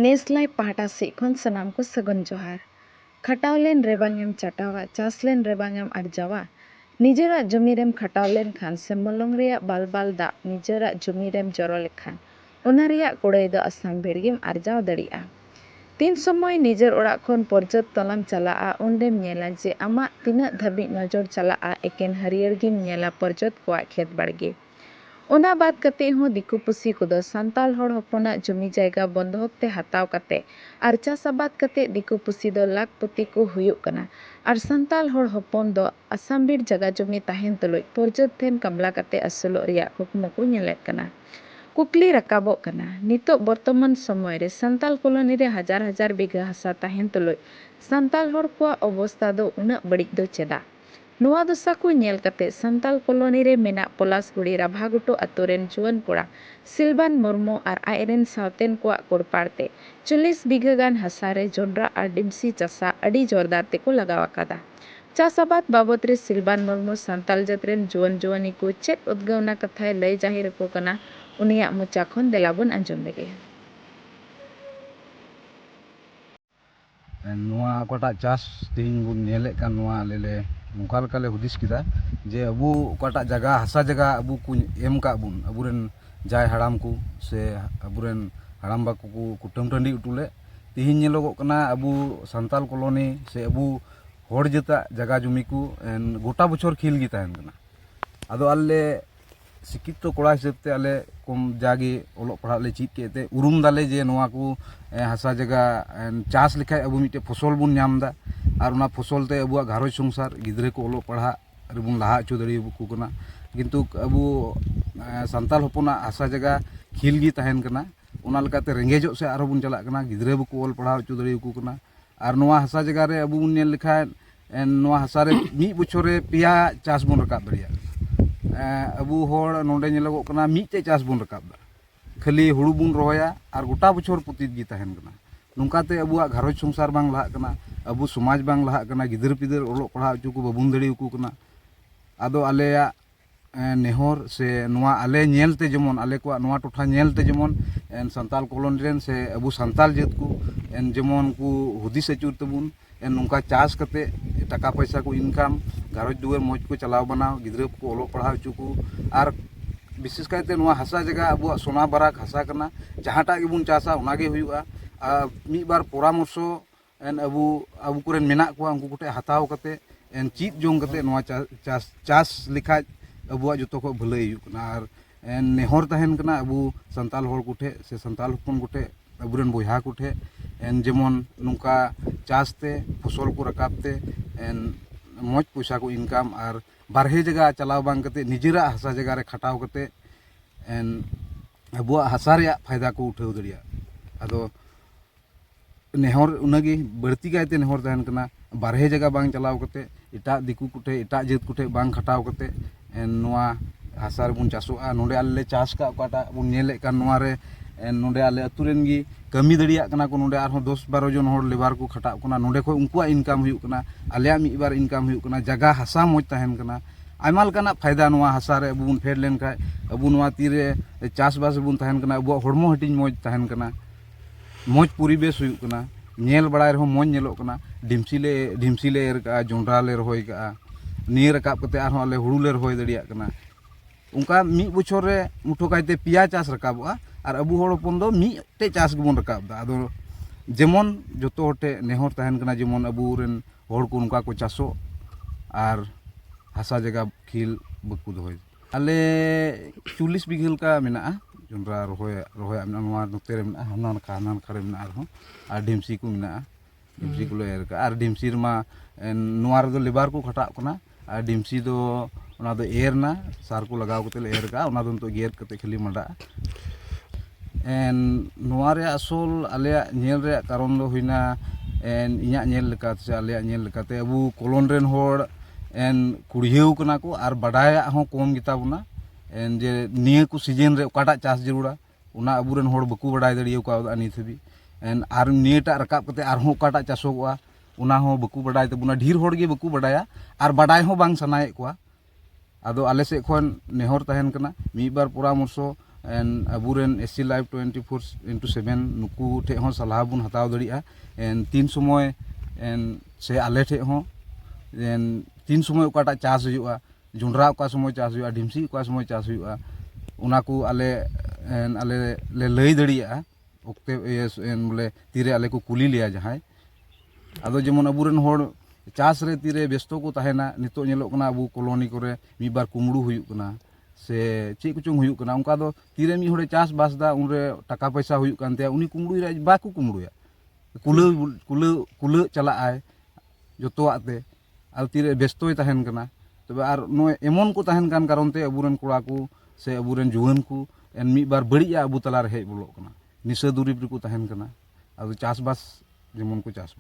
ᱱᱮᱥ ᱞᱟᱭ ᱯᱟᱦᱴᱟ ᱥᱮᱡ ᱠᱷᱚᱱ ᱥᱟᱱᱟᱢ ᱠᱚ ᱥᱟᱹᱜᱩᱱ ᱡᱚᱦᱟᱨ᱾ ᱠᱷᱟᱴᱟᱣ ᱞᱮᱱ ᱨᱮ ᱵᱟᱝ ᱮᱢ ᱪᱟᱴᱟᱣᱟ, ᱪᱟᱥ ᱞᱮᱱ ᱨᱮ ᱵᱟᱝ ᱮᱢ ᱟᱨᱡᱟᱣᱟ᱾ ᱱᱤᱡᱮᱨᱟᱜ ᱡᱚᱢᱤ ᱨᱮᱢ ᱠᱷᱟᱴᱟᱣ ᱞᱮᱱ ᱠᱷᱟᱱ ᱥᱮ ᱢᱚᱞᱚᱝ ᱨᱮᱭᱟᱜ ᱵᱟᱞ ᱵᱟᱞ ᱫᱟᱜ ᱱᱤᱡᱮᱨᱟᱜ ᱡᱚᱢᱤ ᱨᱮᱢ ᱡᱚᱨᱚ ᱞᱮᱠᱷᱟᱱ ᱚᱱᱟ ᱨᱮᱭᱟᱜ ᱠᱩᱲᱟᱹᱭ ᱫᱚ ᱟᱥᱟᱢ ᱵᱷᱮᱲ ᱜᱮᱢ ᱟᱨᱡᱟᱣ ᱫᱟᱲᱮᱭᱟᱜᱼᱟ᱾ ᱛᱤᱱ ᱥᱚᱢᱚᱭ ᱱᱤᱡᱮᱨ ᱚᱲᱟᱜ ᱠᱷᱚᱱ ᱯᱚᱨᱡᱚᱛ ᱛᱚᱞᱟᱢ ᱪᱟᱞᱟᱜᱼᱟ ᱩᱱ ᱨᱮᱢ ᱧᱮᱞᱟ ᱡᱮ ᱟᱢᱟᱜ ᱛᱤᱱᱟᱹᱜ ᱫᱷᱟᱹᱵᱤᱡ ᱱᱚᱡᱚᱨ ᱪᱟᱞᱟᱜᱼᱟ ᱮᱠᱮᱱ ᱦᱟᱹᱨᱭᱟᱹᱲ ᱜᱮᱢ ᱧᱮᱞᱟ ᱯᱚᱨᱡᱚᱛ ᱠᱚᱣᱟᱜ ᱠᱷᱮᱛ ᱵᱟᱲᱜᱮ᱾ ᱚᱱᱟ ᱵᱟᱫᱽ ᱠᱟᱛᱮ ᱦᱚᱸ ᱫᱤᱠᱩ ᱯᱩᱥᱤ ᱠᱚᱫᱚ ᱥᱟᱱᱛᱟᱞ ᱦᱚᱲ ᱦᱚᱯᱚᱱᱟᱜ ᱡᱚᱢᱤ ᱡᱟᱭᱜᱟ ᱵᱚᱱᱫᱷᱚᱠ ᱛᱮ ᱦᱟᱛᱟᱣ ᱠᱟᱛᱮ ᱟᱨ ᱪᱟᱥ ᱟᱵᱟᱫᱽ ᱠᱟᱛᱮ ᱫᱤᱠᱩ ᱯᱩᱥᱤ ᱫᱚ ᱞᱟᱠᱷᱯᱚᱛᱤ ᱠᱚ ᱦᱩᱭᱩᱜ ᱠᱟᱱᱟ ᱟᱨ ᱥᱟᱱᱛᱟᱞ ᱦᱚᱲ ᱦᱚᱯᱚᱱ ᱫᱚ ᱟᱥᱟᱢ ᱵᱤᱨ ᱡᱟᱜᱟ ᱡᱚᱢᱤ ᱛᱟᱦᱮᱱ ᱛᱩᱞᱩᱡ ᱯᱚᱨᱡᱟᱹᱛ ᱴᱷᱮᱱ ᱠᱟᱢᱞᱟ ᱠᱟᱛᱮ ᱟᱹᱥᱩᱞᱚᱜ ᱨᱮᱭᱟᱜ ᱠᱩᱠᱢᱩ ᱠᱚ ᱧᱮᱞᱮᱫ ᱠᱟᱱᱟ᱾ ᱠᱩᱠᱞᱤ ᱨᱟᱠᱟᱵᱚᱜ ᱠᱟᱱᱟ, ᱱᱤᱛᱚᱜ ᱵᱚᱨᱛᱚᱢᱟᱱ ᱥᱚᱢᱚᱭ ᱨᱮ ᱥᱟᱱᱛᱟᱞ ᱠᱚᱞᱚᱱᱤ ᱨᱮ ᱦᱟᱡᱟᱨ ᱦᱟᱡᱟᱨ ᱵᱤᱜᱷᱟᱹ ᱦᱟᱥᱟ ᱛᱟᱦᱮᱱ ᱛᱩᱞᱩᱡ ᱥᱟᱱᱛᱟᱞ ᱦᱚᱲ ᱠᱚᱣᱟᱜ ᱚᱵᱚᱥᱛᱟ ᱫᱚ ᱩᱱᱟᱹᱜ ᱵᱟᱹᱲᱤᱡ ᱫᱚ ᱪᱮᱫᱟᱜ? ᱱᱚᱣᱟ ᱫᱚᱥᱟ ᱠᱚ ᱧᱮᱞ ᱠᱟᱛᱮ ᱥᱟᱱᱛᱟᱞ ᱠᱚᱞᱚᱱᱤ ᱨᱮ ᱢᱮᱱᱟᱜ ᱯᱚᱞᱟᱥᱜᱩᱲᱤ ᱨᱟᱵᱷᱟ ᱜᱷᱩᱴᱩ ᱟᱹᱛᱩ ᱨᱮᱱ ᱡᱩᱣᱟᱹᱱ ᱠᱚᱲᱟ ᱥᱤᱞᱵᱟᱱ ᱢᱩᱨᱢᱩ ᱟᱨ ᱟᱡ ᱨᱮᱱ ᱥᱟᱶᱛᱮᱱ ᱠᱚᱣᱟᱜ ᱠᱚᱲᱯᱟᱲ ᱛᱮ ᱪᱚᱞᱞᱤᱥ ᱵᱤᱜᱷᱟᱹ ᱜᱟᱱ ᱦᱟᱥᱟ ᱨᱮ ᱡᱚᱱᱰᱨᱟ ᱟᱨ ᱰᱤᱢᱥᱤ ᱪᱟᱥᱟ ᱟᱹᱰᱤ ᱡᱚᱨᱫᱟᱨ ᱛᱮᱠᱚ ᱞᱟᱜᱟᱣ ᱟᱠᱟᱫᱟ᱾ ᱪᱟᱥ ᱟᱵᱟᱫᱽ ᱵᱟᱵᱚᱛ ᱨᱮ ᱥᱤᱞᱵᱟᱱ ᱢᱩᱨᱢᱩ ᱥᱟᱱᱛᱟᱞ ᱡᱟᱹᱛ ᱨᱮᱱ ᱡᱩᱣᱟᱹᱱ ᱡᱩᱣᱟᱹᱱᱤ ᱠᱚ ᱪᱮᱫ ᱩᱫᱽᱜᱟᱹᱣᱱᱟ ᱠᱟᱛᱷᱟᱭ ᱞᱟᱹᱭ ᱡᱟᱹᱦᱤᱨ ᱟᱠᱚ ᱠᱟᱱᱟ ᱩᱱᱤᱭᱟᱜ ᱢᱚᱪᱟ ᱠᱷᱚᱱ ᱫᱮᱞᱟ ᱵᱚᱱ ᱟᱸᱡᱚᱢ ᱞᱮᱜᱮ᱾ ᱱᱚᱣᱟ ᱚᱠᱟᱴᱟᱜ ᱪᱟᱥ ᱛᱮᱦᱮᱧ ᱵᱚᱱ ᱧᱮᱞᱮᱫ ᱠᱟᱱ ᱱᱚᱣᱟ ᱟᱞᱮ ᱞᱮ ᱱᱚᱝᱠᱟ ᱞᱮᱠᱟ ᱞᱮ ᱦᱩᱫᱤᱥ ᱠᱮᱫᱟ ᱡᱮ ᱟᱵᱚ ᱚᱠᱟᱴᱟᱜ ᱡᱟᱭᱜᱟ ᱦᱟᱥᱟ ᱡᱟᱭᱜᱟ ᱟᱵᱚ ᱠᱚ ᱮᱢ ᱟᱠᱟᱫ ᱵᱚᱱ ᱟᱵᱚ ᱨᱮᱱ ᱡᱟᱭ ᱦᱟᱲᱟᱢ ᱠᱚ ᱥᱮ ᱟᱵᱚ ᱨᱮᱱ ᱦᱟᱲᱟᱢ ᱵᱟ ᱠᱚᱠᱚ ᱠᱩᱴᱟᱹᱢ ᱴᱟᱺᱰᱤ ᱦᱚᱴᱚ ᱞᱮᱫ ᱛᱮᱦᱮᱧ ᱧᱮᱞᱚᱜᱚᱜ ᱠᱟᱱᱟ ᱟᱵᱚ ᱥᱟᱱᱛᱟᱲ ᱠᱚᱞᱳᱱᱤ ᱥᱮ ᱟᱵᱚ ᱦᱚᱲ ᱡᱟᱹᱛᱟᱜ ᱡᱟᱭᱜᱟ ᱡᱩᱢᱤ ᱠᱚ ᱜᱳᱴᱟ ᱵᱚᱪᱷᱚᱨ ᱠᱷᱮᱞ ᱜᱮ ᱛᱟᱦᱮᱱ ᱠᱟᱱᱟ ᱟᱫᱚ ᱟᱞᱮ ᱥᱤᱠᱠᱷᱤᱛᱚ ᱠᱚᱲᱟ ᱦᱤᱥᱟᱹᱵ ᱛᱮ ᱟᱞᱮ ᱠᱚᱢ ᱡᱟᱜᱮ ᱚᱞᱚᱜ ᱯᱟᱲᱦᱟᱜ ᱞᱮ ᱪᱮᱫ ᱠᱮᱫ ᱛᱮ ᱩᱨᱩᱢ ᱫᱟᱞᱮ ᱡᱮ ᱱᱚᱣᱟ ᱠᱚ ᱦᱟᱥᱟ ᱡᱟᱭᱜᱟ ᱪᱟᱥ ᱞᱮᱠᱷᱟᱱ ᱟᱵᱚ ᱢᱤᱫᱴᱮᱱ ᱯᱷᱚᱥᱚᱞ ᱵᱚᱱ ᱧᱟᱢ ᱮᱫᱟ ᱟᱨ ᱚᱱᱟ ᱯᱷᱚᱥᱚᱞ ᱛᱮ ᱟᱵᱚᱣᱟᱜ ᱜᱷᱟᱨᱚᱸᱡᱽ ᱥᱚᱝᱥᱟᱨ ᱜᱤᱫᱽᱨᱟᱹ ᱠᱚ ᱚᱞᱚᱜ ᱯᱟᱲᱦᱟᱜ ᱨᱮᱵᱚᱱ ᱞᱟᱦᱟ ᱦᱚᱪᱚ ᱫᱟᱲᱮᱭᱟᱠᱚ ᱠᱟᱱᱟ ᱠᱤᱱᱛᱩ ᱟᱵᱚ ᱥᱟᱱᱛᱟᱲ ᱦᱚᱯᱚᱱᱟᱜ ᱦᱟᱥᱟ ᱡᱟᱭᱜᱟ ᱠᱷᱤᱞ ᱜᱮ ᱛᱟᱦᱮᱱ ᱠᱟᱱᱟ ᱚᱱᱟ ᱞᱮᱠᱟᱛᱮ ᱨᱮᱸᱜᱮᱡᱚᱜ ᱥᱮᱫ ᱟᱨᱦᱚᱸ ᱵᱚᱱ ᱪᱟᱞᱟᱜ ᱠᱟᱱᱟ ᱜᱤᱫᱽᱨᱟᱹ ᱵᱟᱠᱚ ᱚᱞ ᱯᱟᱲᱦᱟᱣ ᱦᱚᱪᱚ ᱫᱟᱲᱮᱭᱟᱠᱚ ᱠᱟᱱᱟ ᱟᱨ ᱱᱚᱣᱟ ᱦᱟᱥᱟ ᱡᱟᱭᱜᱟ ᱨᱮ ᱟᱵᱚ ᱵᱚᱱ ᱧᱮᱞ ᱞᱮᱠᱷᱟᱱ ᱱᱚᱣᱟ ᱦᱟᱥᱟ ᱨᱮ ᱢᱤᱫ ᱵᱚᱪᱷᱚᱨ ᱨᱮ ᱯᱮᱭᱟ ᱪᱟᱥ ᱵᱚᱱ ᱨᱟᱠᱟᱵ ᱫᱟᱲᱮᱭᱟᱜ ᱠᱟᱱᱟ ᱟᱵᱚ ᱦᱚᱲ ᱱᱚᱰᱮ ᱧᱮᱞᱚᱜᱚᱜ ᱠᱟᱱᱟ ᱢᱤᱫᱴᱮᱱ ᱪᱟᱥ ᱵᱚᱱ ᱨᱟᱠᱟᱵ ᱮᱫᱟ ᱠᱷᱟᱹᱞᱤ ᱦᱩᱲᱩ ᱵᱚᱱ ᱨᱚᱦᱚᱭᱟ ᱟᱨ ᱜᱳᱴᱟ ᱵᱚᱪᱷᱚᱨ ᱯᱚᱛᱤᱛ ᱜᱮ ᱛᱟᱦᱮᱱ ᱠᱟᱱᱟ ᱱᱚᱝᱠᱟ ᱛᱮ ᱟᱵᱚᱣᱟᱜ ᱜᱷᱟᱨᱚᱸᱡᱽ ᱥᱚᱝᱥᱟᱨ ᱵᱟᱝ ᱞᱟᱦᱟᱜ ᱠᱟᱱᱟ ᱟᱵᱚ ᱥᱚᱢᱟᱡᱽ ᱵᱟᱝ ᱞᱟᱦᱟᱜ ᱠᱟᱱᱟ ᱜᱤᱫᱟᱹᱨ ᱯᱤᱫᱟᱹᱨ ᱚᱞᱚᱜ ᱯᱟᱲᱦᱟᱣ ᱦᱚᱪᱚ ᱠᱚ ᱵᱟᱵᱚᱱ ᱫᱟᱲᱮ ᱟᱠᱚ ᱠᱟᱱᱟ ᱟᱫᱚ ᱟᱞᱮᱭᱟᱜ ᱱᱮᱦᱚᱨ ᱥᱮ ᱱᱚᱣᱟ ᱟᱞᱮ ᱧᱮᱞ ᱛᱮ ᱡᱮᱢᱚᱱ ᱟᱞᱮ ᱠᱚᱣᱟᱜ ᱱᱚᱣᱟ ᱴᱚᱴᱷᱟ ᱧᱮᱞ ᱛᱮ ᱡᱮᱢᱚᱱ ᱥᱟᱱᱛᱟᱲ ᱠᱚᱞᱳᱱᱤ ᱨᱮᱱ ᱥᱮ ᱟᱵᱚ ᱥᱟᱱᱛᱟᱲ ᱡᱟᱹᱛ ᱠᱚ ᱡᱮᱢᱚᱱ ᱠᱚ ᱦᱩᱫᱤᱥ ᱟᱹᱪᱩᱨ ᱛᱟᱵᱚᱱ ᱱᱚᱝᱠᱟ ᱪᱟᱥ ᱠᱟᱛᱮ ᱴᱟᱠᱟ ᱯᱚᱭᱥᱟ ᱠᱚ ᱤᱱᱠᱟᱢ ᱜᱷᱟᱨᱚᱸᱡᱽ ᱫᱩᱣᱟᱹᱨ ᱢᱚᱡᱽ ᱠᱚ ᱪᱟᱞᱟᱣ ᱵᱟᱱᱟᱣ ᱜᱤᱫᱽᱨᱟᱹ ᱠᱚ ᱚᱞᱚᱜ ᱯᱟᱲᱦᱟᱣ ᱦᱚᱪᱚ ᱠᱚ ᱟᱨ ᱵᱤᱥᱮᱥ ᱠᱟᱭᱛᱮ ᱱᱚᱣᱟ ᱦᱟᱥᱟ ᱡᱟᱭᱜᱟ ᱟᱵᱚᱣᱟᱜ ᱥᱳᱱᱟ ᱵᱟᱨᱟᱠ ᱦᱟᱥᱟ ᱠᱟᱱᱟ ᱡᱟᱦᱟᱸᱴᱟᱜ ᱜᱮᱵᱚᱱ ᱪᱟᱥᱟ ᱚᱱᱟᱜᱮ ᱦᱩᱭᱩᱜᱼᱟ ᱟᱨ ᱢᱤᱫ ᱵᱟᱨ ᱯᱚᱨᱟᱢᱚᱨᱥᱚ ᱮᱱ ᱟᱵᱚ ᱟᱵᱚ ᱠᱚᱨᱮᱱ ᱢᱮᱱᱟᱜ ᱠᱚᱣᱟ ᱩᱱᱠᱩ ᱠᱚᱴᱷᱮᱱ ᱦᱟᱛᱟᱣ ᱠᱟᱛᱮ ᱮᱱ ᱪᱮᱫ ᱡᱚᱝ ᱠᱟᱛᱮ ᱱᱚᱣᱟ ᱪᱟᱥ ᱪᱟᱥ ᱪᱟᱥ ᱞᱮᱠᱷᱟᱡ ᱟᱵᱚᱣᱟᱜ ᱡᱚᱛᱚ ᱠᱷᱚᱡ ᱵᱷᱟᱹᱞᱟᱹᱭ ᱦᱩᱭᱩᱜ ᱠᱟᱱᱟ ᱟᱨ ᱮᱱ ᱱᱮᱦᱚᱨ ᱛᱟᱦᱮᱱ ᱠᱟᱱᱟ ᱟᱵᱚ ᱥᱟᱱᱛᱟᱞ ᱦᱚᱲ ᱠᱚᱴᱷᱮᱡ ᱥᱮ ᱥᱟᱱᱛᱟᱞ ᱦᱚᱯᱚᱱ ᱠᱚᱴᱷᱮᱡ ᱟᱵᱚ ᱨᱮᱱ ᱵᱚᱭᱦᱟ ᱠᱚᱴᱷᱮᱡ ᱮᱱ ᱡᱮᱢᱚᱱ ᱱᱚᱝᱠᱟ ᱪᱟᱥ ᱛᱮ ᱯᱷᱚᱥᱚᱞ ᱠᱚ ᱨᱟᱠᱟᱵ ᱛᱮ ᱮᱱ ᱢᱚᱡᱽ ᱯᱚᱭᱥᱟ ᱠᱚ ᱤᱱᱠᱟᱢ ᱟᱨ ᱵᱟᱨᱦᱮ ᱡᱟᱭᱜᱟ ᱪᱟᱞᱟᱣ ᱵᱟᱝ ᱠᱟᱛᱮ ᱱᱤᱡᱮᱨᱟᱜ ᱦᱟᱥᱟ ᱡᱟᱭᱜᱟ ᱨᱮ ᱠᱷᱟᱴᱟᱣ ᱠᱟᱛᱮ ᱮᱱ ᱟᱵᱚᱣᱟᱜ ᱦᱟᱥᱟ ᱨᱮᱭᱟᱜ ᱯᱷᱟᱭᱫᱟ ᱠᱚ ᱩᱴᱷᱟᱹᱣ ᱫᱟᱲᱮᱭᱟᱜ ᱟᱫᱚ ᱱᱮᱦᱚᱨ ᱩᱱᱟᱹᱜᱮ ᱵᱟᱹᱲᱛᱤ ᱠᱟᱭᱛᱮ ᱱᱮᱦᱚᱨ ᱛᱟᱦᱮᱱ ᱠᱟᱱᱟ ᱵᱟᱨᱦᱮ ᱡᱟᱭᱜᱟ ᱵᱟᱝ ᱪᱟᱞᱟᱣ ᱠᱟᱛᱮ ᱮᱴᱟᱜ ᱫᱤᱠᱩ ᱠᱚᱴᱷᱮᱡ ᱮᱴᱟᱜ ᱡᱟᱹᱛ ᱠᱚᱴᱷᱮᱡ ᱵᱟᱝ ᱠᱷᱟᱴᱟᱣ ᱠᱟᱛᱮ ᱱᱚᱣᱟ ᱦᱟᱥᱟ ᱨᱮᱵᱚᱱ ᱪᱟᱥᱚᱜᱼᱟ ᱱᱚᱰᱮ ᱟᱞᱮ ᱞᱮ ᱪᱟᱥ ᱠᱟᱜ ᱚᱠᱟᱴᱟᱜ ᱵᱚᱱ ᱧᱮᱞᱮᱫ ᱠᱟᱱ ᱱᱚᱣᱟ ᱨᱮ ᱱᱚᱰᱮ ᱟᱞᱮ ᱟᱛᱳ ᱨᱮᱱ ᱜᱮ ᱠᱟᱹᱢᱤ ᱫᱟᱲᱮᱭᱟᱜ ᱠᱟᱱᱟ ᱠᱚ ᱱᱚᱰᱮ ᱟᱨᱦᱚᱸ ᱫᱚᱥ ᱵᱟᱨᱚ ᱡᱚᱱ ᱦᱚᱲ ᱞᱮᱵᱟᱨ ᱠᱚ ᱠᱷᱟᱴᱟᱜ ᱠᱟᱱᱟ ᱱᱚᱰᱮ ᱠᱷᱚᱡ ᱩᱱᱠᱩᱣᱟᱜ ᱤᱱᱠᱟᱢ ᱦᱩᱭᱩᱜ ᱠᱟᱱᱟ ᱟᱞᱮᱭᱟᱜ ᱢᱤᱫ ᱵᱟᱨ ᱤᱱᱠᱟᱢ ᱦᱩᱭᱩᱜ ᱠᱟᱱᱟ ᱡᱟᱭᱜᱟ ᱦᱟᱥᱟ ᱢᱚᱡᱽ ᱛᱟᱦᱮᱱ ᱠᱟᱱᱟ ᱟᱭᱢᱟ ᱞᱮᱠᱟᱱᱟᱜ ᱯᱷᱟᱭᱫᱟ ᱱᱚᱣᱟ ᱦᱟᱥᱟ ᱨᱮ ᱟᱵᱚ ᱵᱚᱱ ᱯᱷᱮᱰ ᱞᱮᱱᱠᱷᱟᱡ ᱟᱵᱚ ᱱᱚᱣᱟ ᱛᱤᱨᱮ ᱪᱟᱥᱼᱵᱟᱥ ᱨᱮᱵᱚᱱ ᱛᱟᱦᱮᱱ ᱠᱟᱱᱟ ᱟᱵᱚᱣᱟᱜ ᱦᱚᱲᱢᱚ ᱦᱟᱹᱴᱤᱧ ᱢᱚᱡᱽ ᱛᱟᱦᱮᱱ ᱠᱟᱱᱟ ᱢᱚᱡᱽ ᱯᱚᱨᱤᱵᱮᱥ ᱦᱩᱭᱩᱜ ᱠᱟᱱᱟ ᱧᱮᱞ ᱵᱟᱲᱟᱭ ᱨᱮᱦᱚᱸ ᱢᱚᱡᱽ ᱧᱮᱞᱚᱜ ᱠᱟᱱᱟ ᱰᱷᱤᱢᱥᱤ ᱞᱮ ᱰᱷᱤᱢᱥᱤ ᱞᱮ ᱮᱨ ᱠᱟᱜᱼᱟ ᱡᱚᱱᱰᱨᱟ ᱞᱮ ᱨᱚᱦᱚᱭ ᱠᱟᱜᱼᱟ ᱱᱤᱭᱟᱹ ᱨᱟᱠᱟᱵ ᱠᱟᱛᱮ ᱟᱨᱦᱚᱸ ᱟᱞᱮ ᱦᱳᱲᱳ ᱞᱮ ᱨᱚᱦᱚᱭ ᱫᱟᱲᱮᱭᱟᱜ ᱠᱟᱱᱟ ᱚᱱᱠᱟ ᱢᱤᱫ ᱵᱚᱪᱷᱚᱨ ᱨᱮ ᱢᱩᱴᱷᱟᱹ ᱠᱟᱭᱛᱮ ᱯᱮᱭᱟ ᱪᱟᱥ ᱨᱟᱠᱟᱵᱚᱜᱼᱟ ᱟᱨ ᱟᱵᱚ ᱦᱚᱲ ᱦᱚᱯᱚᱱ ᱫᱚ ᱢᱤᱫᱴᱮᱡ ᱪᱟᱥ ᱜᱮᱵᱚᱱ ᱨᱟᱠᱟᱵ ᱮᱫᱟ ᱟᱫᱚ ᱡᱮᱢᱚᱱ ᱡᱚᱛᱚ ᱦᱚᱲ ᱴᱷᱮᱡ ᱱᱮᱦᱚᱨ ᱛᱟᱦᱮᱱ ᱠᱟᱱᱟ ᱡᱮᱢᱚᱱ ᱟᱵᱚ ᱨᱮᱱ ᱦᱚᱲ ᱠᱚ ᱱᱚᱝᱠᱟ ᱠᱚ ᱪᱟᱥᱚᱜ ᱟᱨ ᱦᱟᱥᱟ ᱡᱟᱭᱜᱟ ᱠᱷᱤᱞ ᱵᱟᱠᱚ ᱫᱚᱦᱚᱭ ᱟᱞᱮ ᱪᱚᱞᱞᱤᱥ ᱵᱤᱜᱷᱟᱹ ᱞᱮᱠᱟ ᱢᱮᱱᱟᱜᱼᱟ ᱡᱚᱸᱰᱨᱟ ᱨᱚᱦᱚᱭ ᱨᱚᱦᱚᱭᱟᱜ ᱢᱮᱱᱟᱜᱼᱟ ᱱᱚᱣᱟ ᱱᱚᱛᱮ ᱨᱮ ᱢᱮᱱᱟᱜᱼᱟ ᱦᱟᱱᱟ ᱱᱟᱠᱷᱟ ᱦᱟᱱᱟ ᱱᱟᱠᱷᱟ ᱨᱮ ᱢᱮᱱᱟᱜᱼᱟ ᱟᱨᱦᱚᱸ ᱟᱨ ᱰᱷᱤᱢᱥᱤ ᱠᱚ ᱢᱮᱱᱟᱜᱼᱟ ᱰᱷᱤᱢᱥᱤ ᱠᱚᱞᱮ ᱮᱨ ᱠᱟᱜᱼᱟ ᱟᱨ ᱰᱷᱤᱢᱥᱤ ᱨᱮᱢᱟ ᱱᱚᱣᱟ ᱨᱮᱫᱚ ᱞᱮᱵᱟᱨ ᱠᱚ ᱠᱷᱟᱴᱟᱜ ᱠᱟᱱᱟ ᱟᱨ ᱰᱷᱤᱢᱥᱤ ᱫᱚ ᱚᱱᱟ ᱫᱚ ᱮᱨ ᱮᱱᱟ ᱥᱟᱨ ᱠᱚ ᱞᱟᱜᱟᱣ ᱠᱟᱛᱮᱫ ᱞᱮ ᱮᱨ ᱠᱟᱜᱼᱟ ᱚᱱᱟ ᱫᱚ ᱱᱤᱛᱚᱜ ᱜᱮᱫ ᱠᱟᱛᱮᱫ ᱠᱷᱟᱹᱞᱤ ᱢᱟᱰᱟᱜᱼᱟ ᱱᱚᱣᱟ ᱨᱮᱭᱟᱜ ᱟᱥᱚᱞ ᱟᱞᱮᱭᱟᱜ ᱧᱮᱞ ᱨᱮᱭᱟᱜ ᱠᱟᱨᱚᱱ ᱫᱚ ᱦᱩᱭᱱᱟ ᱤᱧᱟᱹᱜ ᱧᱮᱞ ᱞᱮᱠᱟ ᱥᱮ ᱟᱞᱮᱭᱟᱜ ᱧᱮᱞ ᱞᱮᱠᱟᱛᱮ ᱟᱵᱚ ᱠᱚᱞᱚᱢ ᱨᱮᱱ ᱦᱚᱲ ᱠᱩᱲᱭᱟᱹᱣ ᱠᱟᱱᱟ ᱠᱚ ᱟᱨ ᱵᱟᱰᱟᱭᱟᱜ ᱦᱚᱸ ᱠᱚᱢ ᱜᱮᱛᱟ ᱵᱚᱱᱟ ᱡᱮ ᱱᱤᱭᱟᱹ ᱠᱚ ᱥᱤᱡᱤᱱ ᱨᱮ ᱚᱠᱟᱴᱟᱜ ᱪᱟᱥ ᱡᱟᱹᱨᱩᱲᱟ ᱚᱱᱟ ᱟᱵᱚ ᱨᱮᱱ ᱦᱚᱲ ᱵᱟᱠᱚ ᱵᱟᱰᱟᱭ ᱫᱟᱲᱮ ᱠᱟᱣᱫᱟ ᱱᱤᱛ ᱦᱟᱹᱵᱤᱡ ᱟᱨ ᱱᱤᱭᱟᱹᱴᱟᱜ ᱨᱟᱠᱟᱵ ᱠᱟᱛᱮ ᱟᱨᱦᱚᱸ ᱚᱠᱟᱴᱟᱜ ᱪᱟᱥᱚᱜᱚᱜᱼᱟ ᱚᱱᱟ ᱦᱚᱸ ᱵᱟᱠᱚ ᱵᱟᱰᱟᱭ ᱛᱟᱵᱚᱱᱟ ᱰᱷᱮᱨ ᱦᱚᱲᱜᱮ ᱵᱟᱠᱚ ᱵᱟᱰᱟᱭᱟ ᱟᱨ ᱵᱟᱰᱟᱭ ᱦᱚᱸ ᱵᱟᱝ ᱥᱟᱱᱟᱭᱮᱫ ᱠᱚᱣᱟ ᱟᱫᱚ ᱟᱞᱮ ᱥᱮᱫ ᱠᱷᱚᱱ ᱱᱮᱦᱚᱨ ᱛᱟᱦᱮᱱ ᱠᱟᱱᱟ ᱢᱤᱫ ᱵᱟᱨ ᱯᱚᱨᱟᱢᱚᱨᱥᱚ ᱟᱵᱚ ᱨᱮᱱ ᱮᱥᱤ live twenty four into seven ᱱᱩᱠᱩ ᱴᱷᱮᱱ ᱦᱚᱸ ᱥᱟᱞᱦᱟ ᱵᱚᱱ ᱦᱟᱛᱟᱣ ᱫᱟᱲᱮᱭᱟᱜᱼᱟ ᱛᱤᱱ ᱥᱚᱢᱚᱭ ᱥᱮ ᱟᱞᱮ ᱴᱷᱮᱱ ᱦᱚᱸ ᱛᱤᱱ ᱥᱚᱢᱚᱭ ᱚᱠᱟᱴᱟᱜ ᱪᱟᱥ ᱦᱩᱭᱩᱜᱼᱟ ᱡᱚᱱᱰᱨᱟ ᱚᱠᱟ ᱥᱚᱢᱚᱭ ᱪᱟᱥ ᱦᱩᱭᱩᱜᱼᱟ ᱰᱷᱤᱢᱥᱤ ᱚᱠᱟ ᱥᱚᱢᱚᱭ ᱪᱟᱥ ᱦᱩᱭᱩᱜᱼᱟ ᱚᱱᱟ ᱠᱚ ᱟᱞᱮ ᱟᱞᱮ ᱞᱮ ᱞᱟᱹᱭ ᱫᱟᱲᱮᱭᱟᱜᱼᱟ ᱚᱠᱛᱮ ᱵᱚᱞᱮ ᱛᱤᱨᱮ ᱟᱞᱮ ᱠᱚ ᱠᱩᱞᱤ ᱞᱮᱭᱟ ᱡᱟᱦᱟᱸᱭ ᱟᱫᱚ ᱡᱮᱢᱚᱱ ᱟᱵᱚ ᱨᱮᱱ ᱦᱚᱲ ᱪᱟᱥ ᱨᱮ ᱛᱤᱨᱮ ᱵᱮᱥᱛᱚ ᱠᱚ ᱛᱟᱦᱮᱱᱟ ᱱᱤᱛᱚᱜ ᱧᱮᱞᱚᱜ ᱠᱟᱱᱟ ᱟᱵᱚ ᱠᱚᱞᱚᱱᱤ ᱠᱚᱨᱮ ᱢᱤᱫ ᱵᱟᱨ ᱠᱩᱢᱲᱩ ᱦᱩᱭᱩᱜ ᱠᱟᱱᱟ ᱥᱮ ᱪᱮᱫ ᱠᱚᱪᱚᱝ ᱦᱩᱭᱩᱜ ᱠᱟᱱᱟ ᱚᱱᱠᱟ ᱫᱚ ᱛᱤᱨᱮ ᱢᱤᱫ ᱦᱚᱲᱮ ᱪᱟᱥ ᱵᱟᱥ ᱮᱫᱟ ᱩᱱ ᱨᱮ ᱴᱟᱠᱟ ᱯᱚᱭᱥᱟ ᱦᱩᱭᱩᱜ ᱠᱟᱱ ᱛᱟᱭᱟ ᱩᱱᱤ ᱠᱩᱢᱲᱩᱭ ᱨᱮᱭᱟᱜ ᱵᱟᱠᱚ ᱠᱩᱢᱲᱩᱭᱟ ᱠᱩᱞᱟᱹᱣ ᱠᱩᱞᱟᱹᱣ ᱠᱩᱞᱟᱹᱜ ᱪᱟᱞᱟᱜ ᱟᱭ ᱡᱚᱛᱚᱣᱟᱜ ᱛᱮ ᱟᱨ ᱛᱤᱨᱮ ᱵᱮᱥᱛᱚᱭ ᱛᱟᱦᱮᱱ ᱠᱟᱱᱟ ᱛᱚᱵᱮ ᱟᱨ ᱱᱚᱜᱼᱚᱭ ᱮᱢᱚᱱ ᱠᱚ ᱛᱟᱦᱮᱱ ᱠᱟᱱ ᱠᱟᱨᱚᱱ ᱛᱮ ᱟᱵᱚ ᱨᱮᱱ ᱠᱚᱲᱟ ᱠᱚ ᱥᱮ ᱟᱵᱚ ᱨᱮᱱ ᱡᱩᱣᱟᱹᱱ ᱠᱚ ᱢᱤᱫ ᱵᱟᱨ ᱵᱟᱹᱲᱤᱡ ᱟᱜ ᱟᱵᱚ ᱛᱟᱞᱟ ᱨᱮ ᱦᱮᱡ ᱵᱚᱞᱚᱜ ᱠᱟᱱᱟ ᱱᱤᱥᱟᱹ ᱫᱩᱨᱤᱵᱽ ᱨᱮᱠᱚ ᱛᱟᱦᱮᱱ ᱠᱟᱱᱟ ᱟᱫᱚ ᱪᱟᱥᱵᱟᱥ ᱡᱮᱢᱚᱱ ᱠᱚ ᱪᱟᱥᱵᱟᱥ ᱮᱫᱟ